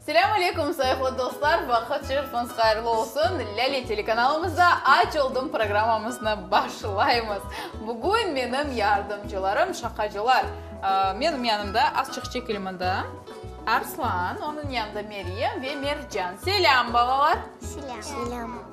Selâm aleyküm, sayıqlı dostlar! Vaqıt şerifiniz hayırlı olsun! Lâle telekanalımızda Aç oldım programmamıznı başlaymız. Bugün menim yardımcılarım, şaqacılar. Menim yanımda azçıq çekilmedi Arslan, onıñ yanında Meryem ve Mercan. Selâm, balalar! Selâm!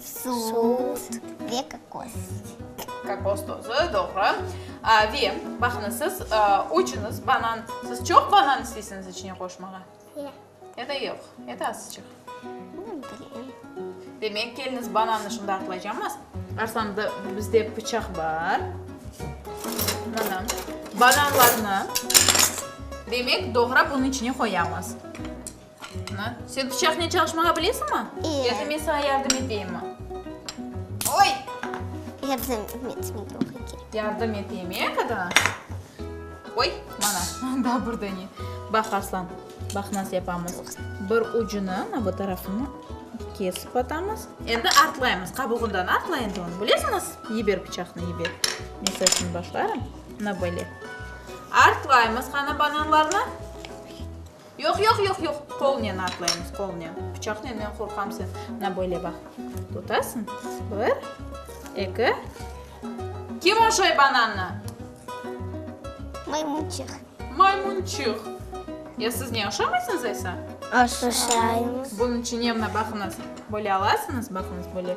Sut ve kokos. Kokos tozu, doğru. Ve, baqıñız, siz üçüñiz banan, siz çoq banan isteysiñiz içine qoşmağa? Ya. Ya da yoq, ya da azıcıq? Ne bileyim. Demek, keliniz banannı şimdi atlaycamız. Arslan, bizde pıçaq bar. Mana, bananlarnı, demek, doğrap, onıñ içine qoyamız. Ana, sen pıçaqnen çalışmağa bilesiñmi? İyi. Yoki men saña yardım eteyimmi? Oy! Yardım etmek yoq eken. Yardım eteyim, e, qadına? Oy, mana, daa burda ne. Baq, Arslan, baq, nasıl yapamız. Bir ucunı, ana bu tarafını kesip atamız. Endi artlaymız, qabuğından artla endi onı, bilesiñiz? Yiber pıçaqnı, yiber. Men sañ şimdi başlarım. Ana böyle. Artlaymız qanı bananlarnı. Yoq, yoq, yoq, yoq, qolnen atlaymız, qolnen. Pıçaq nenden qorqam sen? Mına böyle baq, tutasıñ, bir, eki. Kim oşay banannı? Maymunçıq. Maymunçıq. Ya siz ne oşamaysıñız aysa? Oşaymız. Bunıñ içine mına baqıñız, böyle alasıñız, baqıñız, böyle.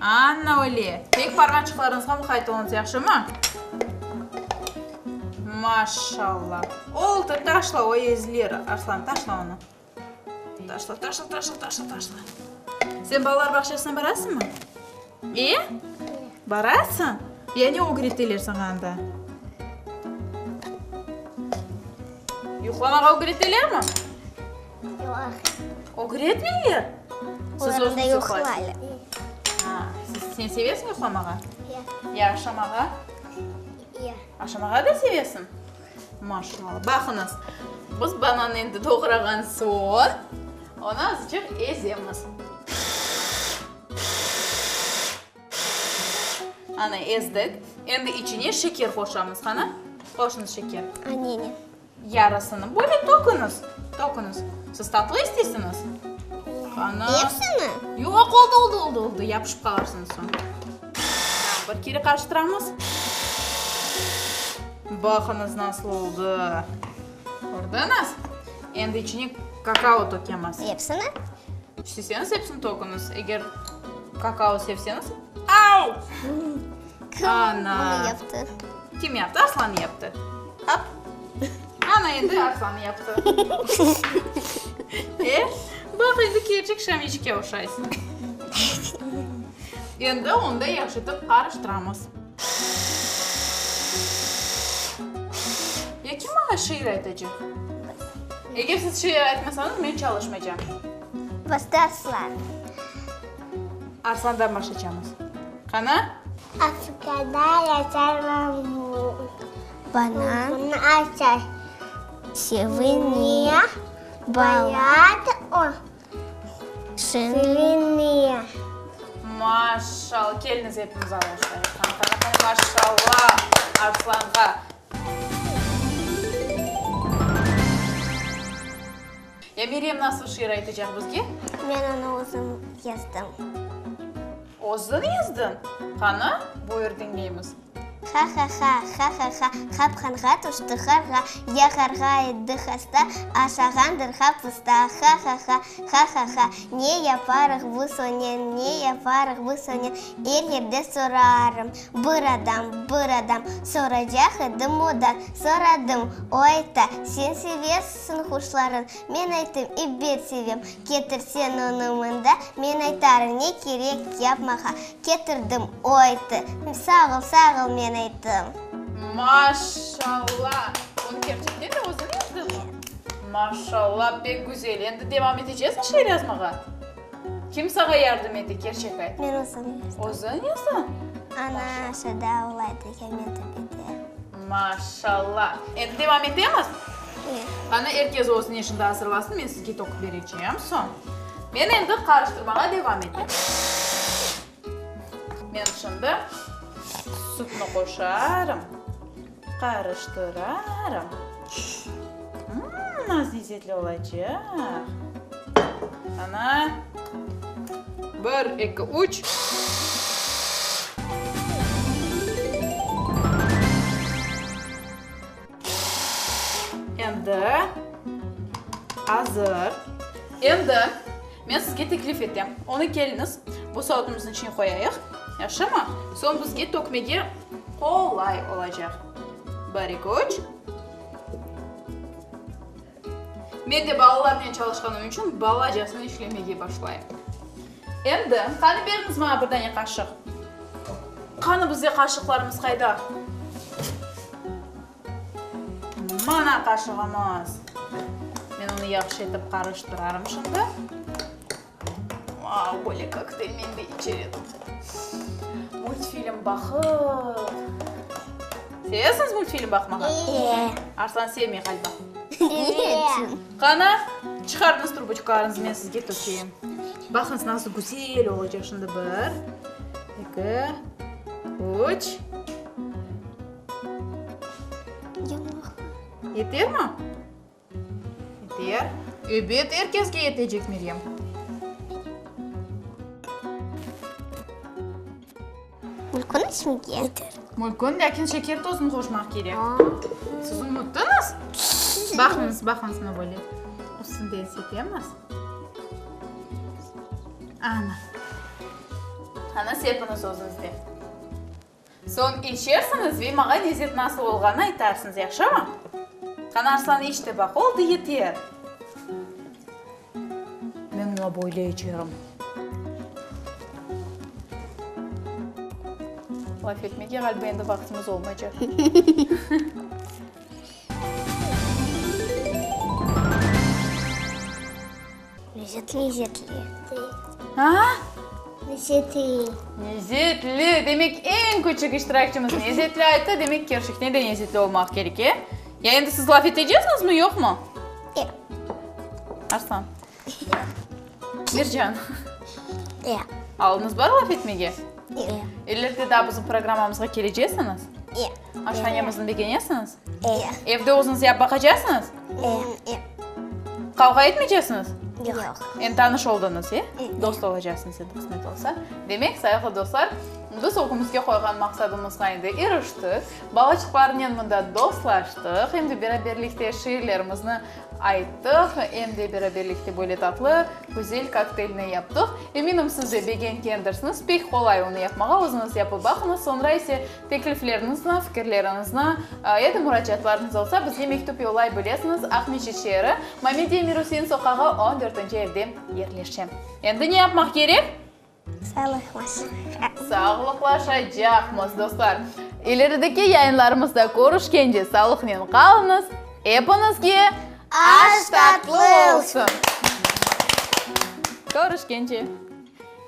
Anna öyle. Tek parmaçıqlarıñızğa muqayet oluñız, yahşımı? Maşallah. Oldı, taşla, o ezilir, Arslan, taşla onı. Taşla, taşla, taşla, taşla, taşla. Sen balalar bağçasına barasıñmı? E? Barasıñ? Ya ne ögreteler saña anda? Yuqlamağa ögretelermi? Ögretmeyler? Siz özüniz yuqlaysiz. Sen sevesiñ yuqlamağa? Ya aşamağa? Ya. Aşamağa da sevesiñ? Maşallah. Baqıñız, biz banannı endi doğrağan soñ, onı azıcıq ezemiz. Ana, ezdik. Endi içine şeker qoşamız. Qana, qoşuñız şeker. Anene. Yarısını böyle töküñiz, töküñiz. Siz tatlı isteysiñiz? Qana. Hepsini? Yoq, oldı, oldı, oldı, oldı, yapışıp qalarsıñız soñ. Bir kere qarıştıramız. Baqıñız, nasıl oldı. Kördiñiz? Endi içine kakao tökemiz. Hepsini? İsteseñiz, hepsini töküñiz. Eger kakao sevseñiz. Au! Ana! Bunu yaptı. Kim yaptı? Arslan yaptı. Hop! Ana endi Arslan yaptı. E, baq, endi kerçek Şamiçke oşaysıñ. Endi onda yahşıtıp qarıştıramız. Ya kim maña şiir aytacaq? Eger siz şiir aytmasañız, men çalışmaycam. Bastı Arslan. Arslandan başlaycamız. Qana? Afrikada yaşar bambuk. Banan. Buni açar. Seviniya. Bayat o. Seviniya. Maşall. Keliniz epimiz alqışlayıq. Maşalla Arslanğa. Ya Meryem nasıl şiir aytacaq bizge? Men onı özüm yazdım. Özün yazdın? Qanı, buyur diñleymiz. Ha-ha-ha, ha-ha-ha, hap hanğa tüşti harğa, ya harğa etti hasta, aşağandır hap usta. Ha-ha-ha, ha-ha-ha, ne yaparıq bu sonen, ne yaparıq bu sonen, er yerde sorarım. Bir adam, bir adam, soracaq edim odan, soradım, o ayta, sen sevesisin quşların, men aytım, ebet sevem, ketirsen onı mında, men aytarım, ne kerek, yap mağa, ketirdim, o aytı, sağ ol, sağ ol, men aytım. Maşalla! Bunı kerçekten de özüñ yazdın mı? Maşalla, pek güzel, endi devam etecezmi şiir yazmağa? Kim sağa yardım ete, kerçek ayt? Men özüm yazdım. Özün yazasañ? Ana aşağıda avlaydı, Kemal tepede. Maşalla. Endi devam etemiz? Ye. Qani, er kes özüni eşinde azırlasın, men sizge toqıp berecem soñ. Men endi qarıştırmağa devam etem. Men şimdi sütni qoşarım. Qarıştırarım. Mmm, az lezzetli olacaq. Ana, bir, eki, üç. Endi azır. Endi Men sizge teklif etem, onı keliñiz, bu saatımıznıñ içine qoyayıq, yahşımı? Soñ bizge tökmege qolay olacaq. Bari köç. Men de balalarnen çalışqanım içün balacasına işlemege başlayım. Endi, qani beriñiz maña bir dane qaşıq. Qani, bizde qaşıqlarımız qayda? Mana qaşığımız. Men onı yahşı etip qarıştırarım şimdi. Vau, böyle kokteyl men de içer edim. Multfilm baqıp. Sevesiñiz multfilm baqmağa? Eee. Arslan sevmey ğaliba. Eee. Qana, çıqarıñız truboçkalarıñızı, men sizge tökeyim. Baqıñız, nasıl güzel olacaq şimdi. Bir, eki, üç. Yeter mi? Yeter. Ebet, er kesge yetecek, Meryem. Mülkün içmege? Yeter. Mülkün, lâkin şeker tozunu qoşmaq kerek. Siz unuttıñız? Baqıñız, baqıñız, ne böyle. Üstünden sepemiz. Ana. Ana, sepiñiz özüñiz de. Soñ içersiñiz ve mağa lezzet nasıl olğanı aytarsıñız, yahşımı? Qani, Arslan, iç de baq, oldı, yeter! Men mına böyle içerim. Laf etmege ğaliba endi vaqtımız olmaycaq. Lezetli-lezetli. Aa? Lezetli. Lezetli, demek eñ küçük iştirakçimiz lezetli ayttı, demek kerçekten de lezetli olmaq kerek, e? Ya endi siz laf eteceksiñiz mi, yoqmı? Yoq. Arslan? Yoq. Mercan? Yoq. Alınız bar laf etmege? Yoq. İleride daa bizim programmamızğa kelecesiñiz? Yoq. Aşanemizni begenesiñiz? Eee. Evde özüñiz yap baqacaqsıñız? Eee. Qavğa etmeycesiñiz? Yoq. Endi tanış oldıñız, e? Dost olacaqsıñız endi qısmet olsa. Demek, sayıqlı dostlar, biz ögümizge qoyğan maqsadımızğa endi iriştik. Balaçıqlarnen mında dostlaştıq, em de beraberlikte şiirlerimizni ayttıq, em de beraberlikte böyle tatlı, güzel kokteylni yaptıq. Eminim, siz de begengendirsiniz. Pek qolay onı yapmağa, özüñiz yapıp baqıñız, soñra ise, Tekliflernizni, fikirleriñizni ya da muracaatlarıñız olsa, bizge mektüp yollay bilesiñiz, Aqmescit şeeri, Mamediye Mirusin soqağı on dörtünci evde yerleşe. Endi ne yapmaq kerek? Sağlıqlaşaq. Sağlıqlaşacaqmız, dostlar. İlerideki yayınlarımızda körüşkence sağlıqnen qalıñız, epiñizge aş tatlı olsun! Körüşkence!